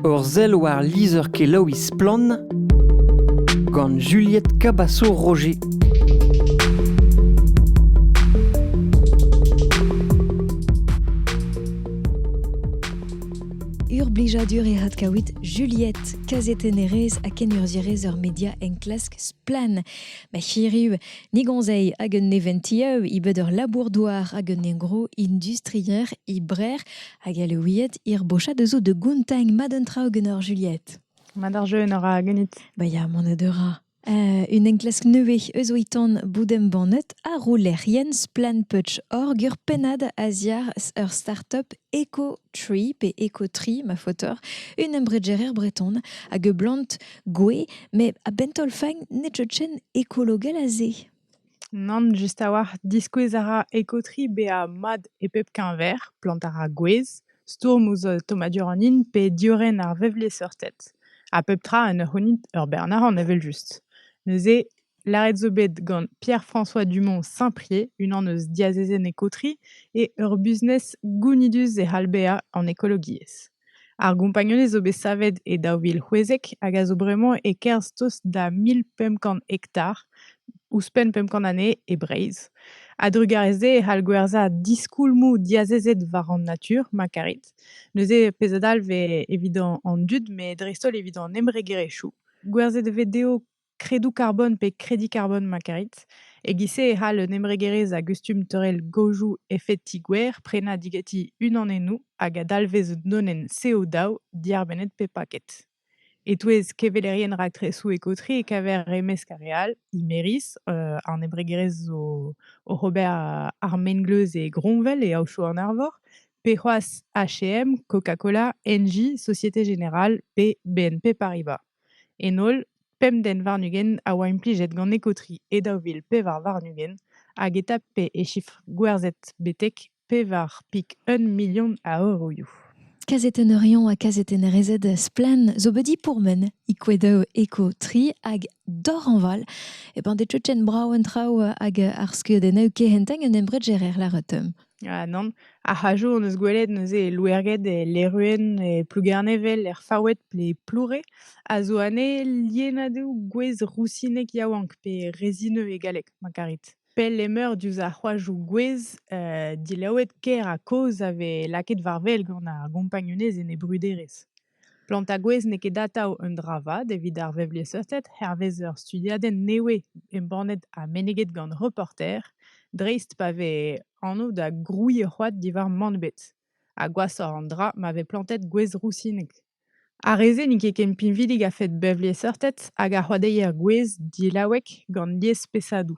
Ur sell war lizher-kelaouiñ Splann! gant Juliette Cabasso-Roger. Ur blijadur e hat kawit Juliette, kazetennerez ha kenurzhierez ur media enklask Splann! Ma chiriu, ni gonzei hag un neventieu, i beud ur labour-douar hag un engro industrier, i brer Hag Alouied hirbochat eus zo da gontañ mat un traoù ganeoc'h Juliette. Mat ar jeu en ora ganit. Ba ya, mont a deura. Uh, un enklask nevez eus oitan boudembannet a ro lec'hienn splanputch.org ur pennad a-ziar ur startup Eco-Tree, pe Eco-Tree, ma faotor, un embregerer breton, hag e blant gwe, met a-bent taol fain ne tjetchen ekologel a se. Nann, just a-walc'h. Diskouez a ra ekotriñ bezañ mat e pep keñver, plantañ ar gwez, stourm ouzh tommadur an hin pe diorren ar vevlezeurted. Ha pep tra en ur c'hounit ur bern arc'hant evel-just. Neuze, lâret zo bet gant Pierre-François Dumont-Saint-Prié, unan eus diazezenn ekotriñ, eo ur business gounidus e c'hall bezañ an ekologiezh. Ar gompagnunezh zo bet savet e daou vil c'hwezek hag a zo bremañ e-kerzh tost da mil pemp kant hektar, ouzhpenn pemp kant anezhe, e Breizh. A-drugarez dezhe e c'hall gwerzhañ diskoulmoù diazezet war an natur ma karit. Neuze pezh a dalv eo evit an dud met dreist-holl evit an embregerezhioù. Gwerzhet e vez dezho kredoù karbon pe kredi karbon ma karit. E-giz-se e c'hall un embregerezh a gustum teurel gaojoù efeti gwer prenañ digeti unanennoù hag a dalvez un donenn CO2 diarbennet pe paket. E-touez kevelerien raktresoù ekootri e kaver e-mesk ar re all Imeris, euh, an embregerezh zo oc'h ober euh, ar mengleuz e Groñvel e Aochou an Arvor, pe c'hoazh H&M, Coca-Cola, Engie, Société Générale pe BNP Paribas. En holl, pemp den warn-ugent a oa implijet gant ekotri e daou vil pevar warn-ugent hag e tape e chifr gwerzhet betek pevar pik un milion a euroioù. Kazetenner-rion ha kazetennerezed Splann! zo bet dipourmen e-kouedoù ekotri hag dorhañval e bañ de tchetchen brav an traoù hag ar skeudennoù kehentañ un embregerer lâret. Ah nann, ar c'hajoù hon eus gwelet neuze e Louerged, e Leruen, e Plougernevel, er Faoued pe e Ploure, a zo anezhe lienadoù gwez rousinek yaouank pe rezineux e galleg ma karit. Pell emeur diouzh ar c'hoajoù gwez dilaouet, ker ha kozh a vez lakaet war wel gant ar gompagnunezh en e bruderezh. Plantañ gwez n'eo ket atav un dra vat evit ar vevliesseurted hervez ur studiadenn nevez embannet ha meneget gant Reporter, dreist pa vez anv da grouiñ ur c'hoad diwar mann-bet ha gwashoc'h an dra ma vez plantet gwez rousinek. Ar re-se n'int ket ken pinvidik a-fet bevliesseurted hag ar c'hoadeier gwez delaouek gant liesspeshadoù.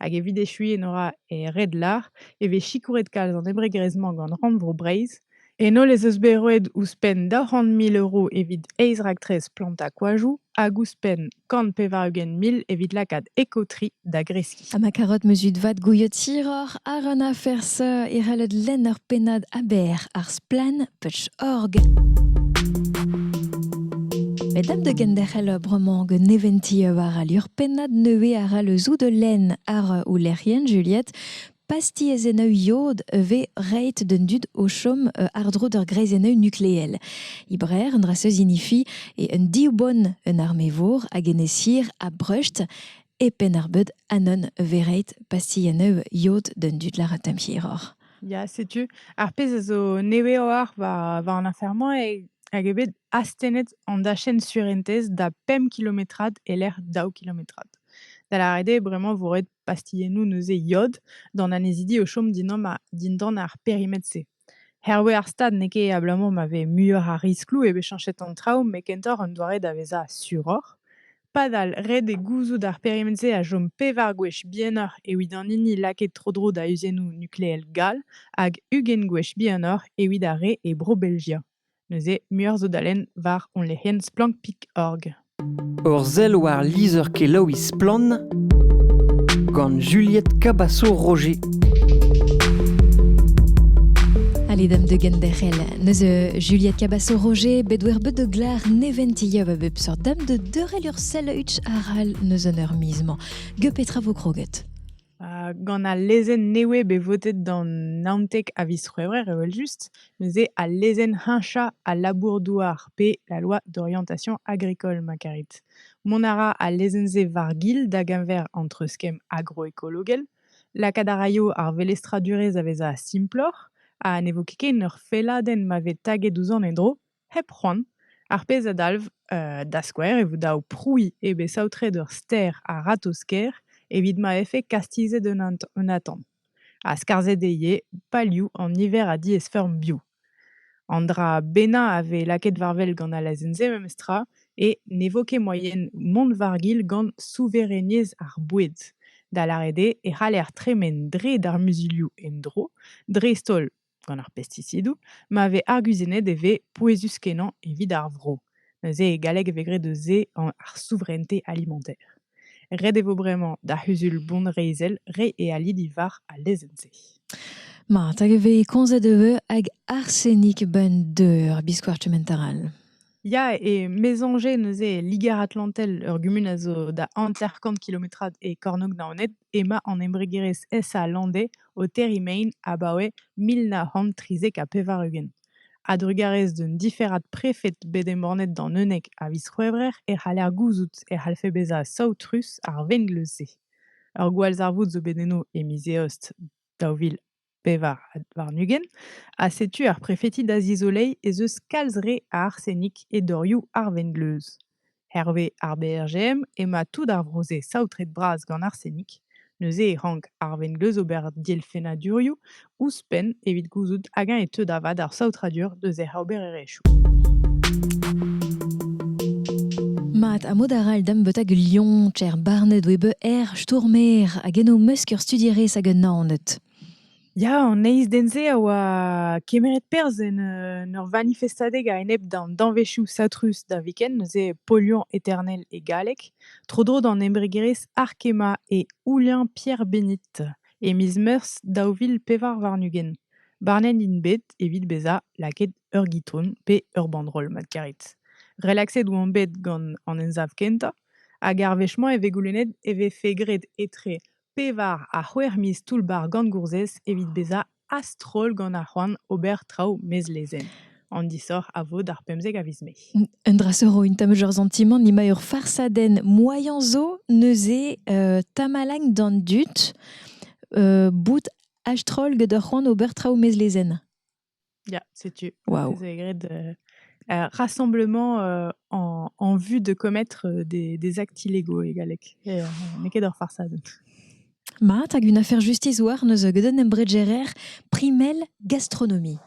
Hag evit echuiñ en ora e red lar e vez sikouret kalz an embregerezh-mañ gant Rannvro Breizh. En holl ez eus bet roet ouzhpenn daou c'hant mil euro evit eizh raktres plantañ koajoù hag ouzhpenn kant pevar-ugent mil evit lakaat Eco-Tri da greskiñ. Ha ma karoot muzut vat gouiot hiroc'h àr an afer-se e c'hellot lenn ur pennad Aber ar Splann! touch.org. Met dam da genderc'hel bremañ gant neventi war al lur pennad nevez a ra le zou de lenn ar oulec'hienn Juliette. Pasties en iod ve reit den dud o chom euh, ardro d'ur greiz en nukleel. Ibrer, un draseus inifi, et un diwbon un armevour hag en esir a brust e pen ar beud anon vereit pasti en iod den dud laratem hiror. Ya, setu ar pezh a zo nevez-oc'h war war an afer-mañ eo hag eo bet astennet an dachenn surentez da pemp kilometrad e-lec'h daou kilometrad. Da lâret eo bremañ vo roet pastilhennoù neuze yod d'an annezidi o chom dindan ar dindan ar perimetr-se. Hervez ar stad n'eo ket abalamour ma vez muioc'h a riskloù eo bet chañchet an traoù met kentoc'h un doare da vezañ suroc'h. Padal, ret eo gouzout ar period-se a chom pevar gwech bihanoc'h evit an hini lakaet tro-dro da uziennoù nukleel gall hag ugent gwech bihanoc'h evit ar re e Bro-Belgia. Neuze, muioc'h zo da lenn war hon lec'hienn Splank.org. Ur sell war lizher-kelaouiñ Splann gant Juliette Cabasso-Roger. Allez, dame de Genderel, neuze Juliette Cabasso-Roger, bet wer bet de glar nevent illob a bep seurt dame de deurel ur sandwich arall n'eus an eur miz-mañ. Ge petra vo kroget Uh, gant al lezenn newe bet votet gant Naontek a viz C'hwevrer evel-just, neuze al lezenn heñchañ al labour-douar pe la loi d'orientation agricole ma karit. Mont a ra al lezenn-se war-gil da geñver entre skemm agroekologel, lakaat a raio ar velestradurezh a vezañ simploc'h, ha ne vo ket ken ur felladenn ma vez taget ouzh an endro, Hep c'hoant, ar pezh a dalv, da skouer, e vo dav prouiñ eo bet saotret ur ster a-ratozh-kaer evit ma vefe kastizet un atant, ha skarzhet eo ivez palioù an niver a diaesfeurm bio. An dra bennañ a vez lakaet war-wel gant al azen-se memestra eo ne vo ket moaien mont war-gil gant souvereniezh ar boued, da lâret eo e c'haller tremen dre d'ar muzulioù en-dro, dreist-holl gant ar pestisidoù ma vez arguzennet e vez pouezus-kenañ evit ar vro. Neuze e galleg e vez graet eus se ar souveraineté alimentaire. Ret e vo bremañ d'ar c'huzul bonreizhel reiñ e ali diwar al lezenn-se. Ma, hag e vez komzet e vez hag arsenik 'benn deur biskoazh kement arall. Ya et Mézanger neuze, Liger-Atlantel, ur gumun a zo da hanter-kant kilometrad e kornôg Naoned, emañ an embregerezh SA landais o terriñ mein abaoe mil nav c'hant trizek ha pevar-ugent. A-drugarez d'un diferad prefed bet embannet d'an unnek a viz C'hwevrer e c'haller gouzout e c'hallfe bezañ saotrus ar vengleuz-se. Ur gwallzarvoud zo bet eno e miz Eost daou vil pevar warn-ugent, ha setu ar prefeti da zizoleiñ ez eus kalz re a arsenik e dorioù ar vengleuz. Herve ar BRGM ema tout ar vro-se saotret-bras gant arsenik, neuze e rank ar vengleuz ober dielfennadurioù ouzhpenn evit gouzout hag-eñ e teu da vat ar saotradur deus hec'h obererezhioù. Mat, ha mod arall dam beut hag lion, cher barnet oe be er stourmer hag en o mesk ur studierez hag un nanet. Ya, an eiz den-se a oa kemeret perzh en euh, ur vanifestadeg a-enep d'an danvezioù satrus da viken, neuze polion eternel e galleg, tro-dro d'an embregerezh Arkema e Oulien Pierre Bénit. E miz Meurzh daou vil pevar warn-ugent, barnet int bet evit bezañ lakaet ur gitron pe ur banroll mat karet. Relaxet oant bet gant an emsav kentañ hag ar wech-mañ e vez goulennet e vefe graet etre pevar ha c'hwec'h miz toull-bac'h gant gourzhez evit bezañ a-stroll gant ar c'hoant ober traoù mezlezenn. an disoc'h a vo d'ar pemzek a viz mai. Un dra zo int tamm ur santimant ema ur farsadenn moaien zo neuze uh, tamalagn d'an dud uh, bout astrol gant ur c'hoant ober traoù mezlezenn. Ya, setu. Wow. Vous avez grade, euh, un rassemblement euh, en, en, vue de commettre euh, des, des actes illégaux égalek. Et euh, on n'est qu'à leur farsade. Ma, tag une affaire justice war neuze geudenn embregerer primel gastronomie.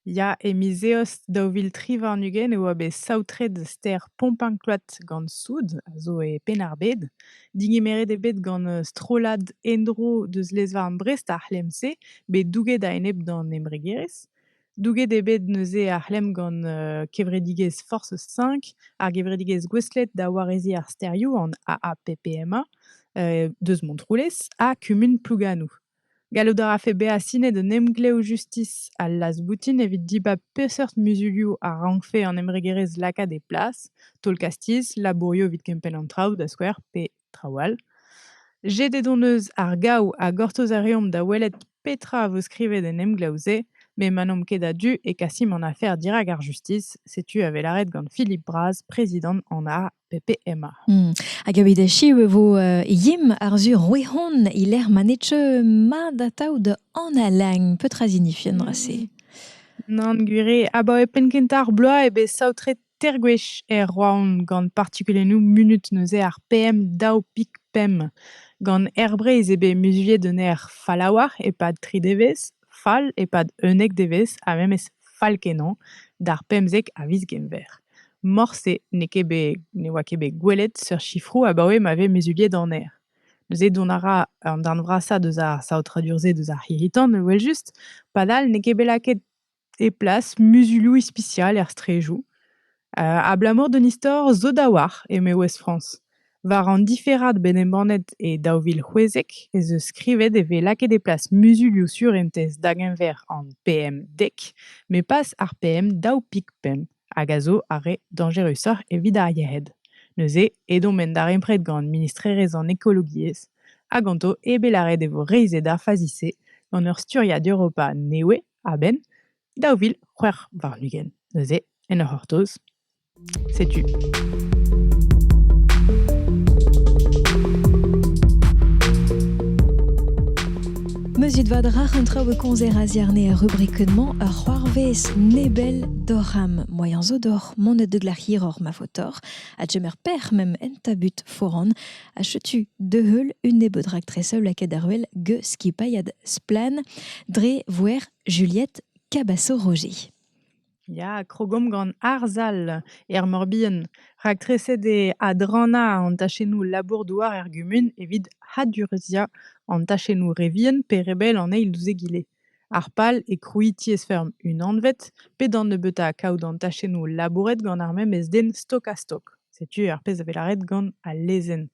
Ya, e miz Eost daou vil tri warn-ugent e oa bet saotret stêr Pompancloud gant soud, a zo e Penn-ar-Bed. Degemeret eo bet gant strollad en-dro deus lez-varn Brest ar c'hlemm-se, bet douget a-enep d'an embregerezh. Douget eo bet neuze ar c'hlemm gant kevredigezh Force 5, ar gevredigezh gouestlet da wareziñ ar stêrioù, an AAPPMA, deus Montroulez, ha kumun Plouganoù. Gallout a rafe bezañ sinet un emglev justis al laz-boutin evit dibab peseurt muzulioù a rankfe an embregerezh lakaat e plas, taol-kastiz, labourioù evit kempenn an traoù, da skouer, pe traoù all. Jedet hon eus ar gaou ha gortoz a reomp da welet petra a vo skrivet en emglev-se, met ma n'omp ket a-du e kasimp an afer dirak ar justis, setu a vez lâret gant Philippe Braz, prezidant an Pepe emañ. Hmm. Hag evit echiv e vo uh, Yim Arzur Rouehon e lec'h ma ne teu mat atav da analañ. Petra zinifien se? Nan gwir abaoe penn-kentañ ar bloaz eo bet saotret ter gwech er Roaon gant partikulennoù munut neuze ar PM2.5. Gant Air Breizh eo bet muzuliet un aer falaouar e-pad tri devezh. fall e-pad unnek devezh ha memes fall-kenañ d'ar pemzek a viz Genver. Morse n'eo ket bet ne oa ket bet gwelet seurt sifroù abaoe ma vez muzuliet an aer. Neuze dont a ra an darn vrasañ deus ar saotradur-se deus ar c'hirri-tan evel-just, padal n'eo ket bet lakaet e plas muzuloù ispisial er straedoù. Abalamour d'an istor zo da oar, eme Ouest-France. War an diferad bet embannet e daou vil c'hwezek ez eus skrivet e vez lakaet e plas muzulioù surentez da-geñver an PM10, met pas ar PM2.5, hag a zo ar re dañjerusoc'h evit ar yec'hed. Neuze ed omp en darempred gant ministrerezh an ekologiezh ha ganto eo bet lâret e vo reizhet ar fazi-se gant ur sturiadur Europa nevez, a-benn daou vil c'hwec'h warn-ugent. Neuze, en ur c'hortoz, setu. Meuzit vad rac'h an traoù e konzer a ziarne er rubrikennement ur c'hoarvez nebel d'oc'h am moaien zo d'oc'h monet de glac'h hiroc'h ma faotoc'h a djemer per mem en tabut foran a chetu de heul un nebeud raktres lakaet ar wel ge skipailhad splan dre voer Juliette Cabaço-Roger. Ya, krogomp gant Arzal er Morbihan, raktreset eo adrannañ an tachennoù labour-douar er gumun evit hadureziañ an tachennoù re vihan pe re bell an eil ouzh egile. Ar pal eo krouiñ tiez-feurm unanvet, pe da nebeutañ kaout an tachennoù labouret gant ar memes den stok-ha-stok. Setu ar pezh a vez lâret gant al lezenn.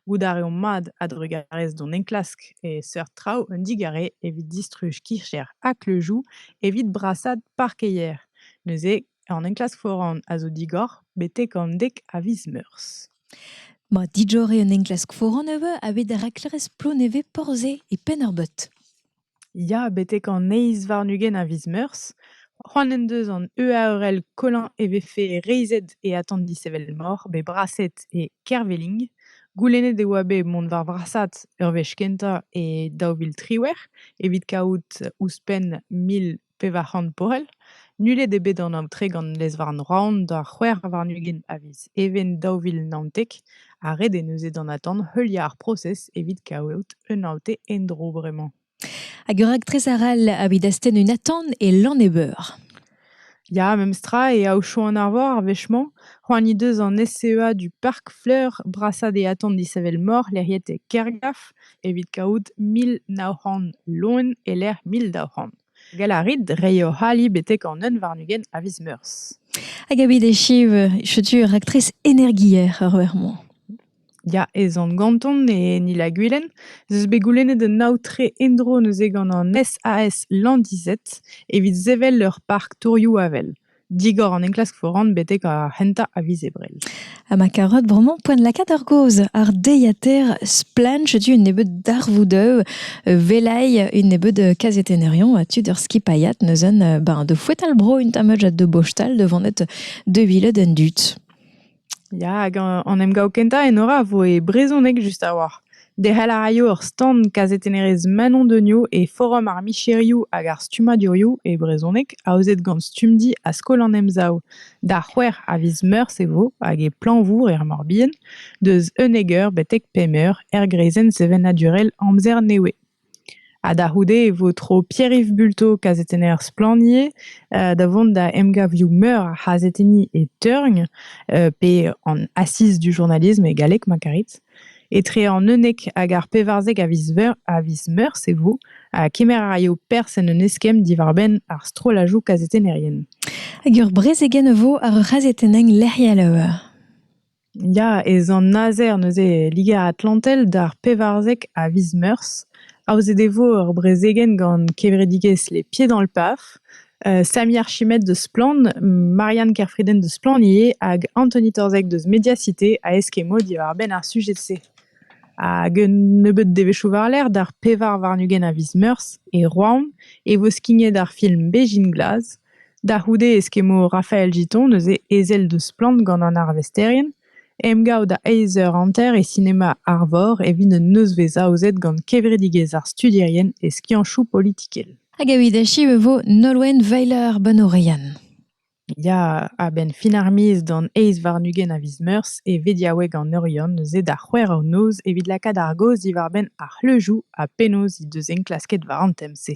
Goût a reomp mat a-drugarez d'hon enklask e seurt traoù un digare evit distruj kicher ha kleujoù evit brasaat parkeier. Neuze, an enklask foran a zo digor betek an dek a viz Meurzh. Ma dijore un enklask foran a vo a-bet rak klerez Plonevez Porzhe e Penn-ar-Beut. Ya, betek an eizh warn-ugent a viz Meurzh, c'hoant en deus an EAERL Colin e vefe reizhet e atant dishevelmor bet braset e Kerveling. Goulennet e oa bet mont war vrasad ur wech kentañ e daou vil triwec'h evit kaout ouzhpenn mil pevar c'hant poell. Nullet eo bet an aotre gant lez-varn Roan d'ar c'hwec'h warn-ugent a viz Even daou vil naontek ha ret eo neuze d'an atant heuliañ ar prosez evit kaout un aotre en-dro bremañ. Hag ur raktres arall evit astenn un atant e Lannebeur. Ya, memestra, e Aochou-an-Arvor ar wech-mañ. C'hoant he deus an SEA du Park Fleur brasañ d'e atant disheñvel-mor lec'hiet e Kergaf. evit kaout mil nav c'hant loen e-lec'h mil daou c'hant. Gall a rit reiñ hoc'h ali betek an un warn-ugent a viz Meurzh. Hag evit echiv, setu raktres energier ur wech moa. Ya, ez on ganton e Nil ha Gwilen. Ez eus bet goulennet un aotre endro neuze gant an SAS Landizet evit sevel ur park tourioù avel. digor an enklask foran betek ar c'hentañ a viz Ebrel. Ha ma karotte bremañ poent lakaat ar gaoz ar deiater Splanch du un nebeud darvoudeu velai un nebeud kazetenerion ha tud ur skipaiat neuzen ben de fouetal bro un tameud de bostal de vonet de viled en dud. Ya, hag an emgav kentañ Enora a voe brezhoneg just a-walc'h. Derc'hel a raio ur stand kazetennerezh Manon Degnaud e forum ar micherioù hag ar stummadurioù e brezhoneg aozet gant Stumdi ha Skol an Emsav. Da c'hwec'h a viz Meurzh e vo, hag e Plañvour er Morbihan, deus unnek eur betek pemp eur, er greizenn sevenadurel Amzer Newe. Ha da c'houde e vo tro Pierre-Yves Bulto, kazetenner Splannier, da vont da emgavioù meur a c'hazetenniñ e Teurgn, pe an Assiz du journalisme e galleg ma karit, etre an unnek hag ar pevarzek a viz Meurzh e vo, ha kemer a raio perzh en un eskemm diwar-benn ar strollajoù kazetennerien. Hag ur brezegenn e vo àr ur c'hazetenn lec'hiel. Ya, ez an azer neuze Liger-Atlantel d'ar pevarzek a viz Meurzh. Aozet e vo ur brezegenn gant kevredigezh Les Pieds dans le Paf, Samy Archimède deus Splann, Marianne Kerfriden deus Splann ivez hag Anthony Torzeg deus Mediacité a eskemo diwar-benn ar sujed-se. Hag un nebeud devezhioù war-lerc'h d'ar pevar warn-ugent a viz Meurzh e Roazhon e vo skignet ar film Bezhin glas. Da c'houde e skemmo Rafael Giton, neuze ezel deus Splann gant an arvesterien, emgav da eizh eur hanter e sinema Arvor evit un nozvezh aozet gant kevredigezh ar studierien e skianchoù politikel. Hag evit echiv e vo Nolwenn Weiler Banourian. Ya, a-benn fin ar miz d'an eizh warn-ugent a viz Meurzh e vediaoueg an Oriant neuze da c'hwec'h eur noz evit lakaat ar gaoz diwar-benn ar c'hleujoù ha penaos he deus enklasket war an tem-se.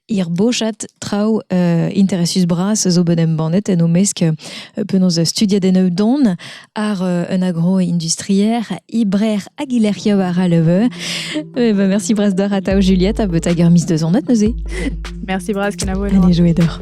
Hir bochad traoù uh, interesus bras zo bet embannet en o mesk uh, penaos studiet en don ar uh, un agro-industrier Ibrer Aguilerchio war a leve. Eh ben, merci bras d'or a tao Juliette a bet hag mis de zonnet neuze. Merci bras kenavo. Allez jouer d'or.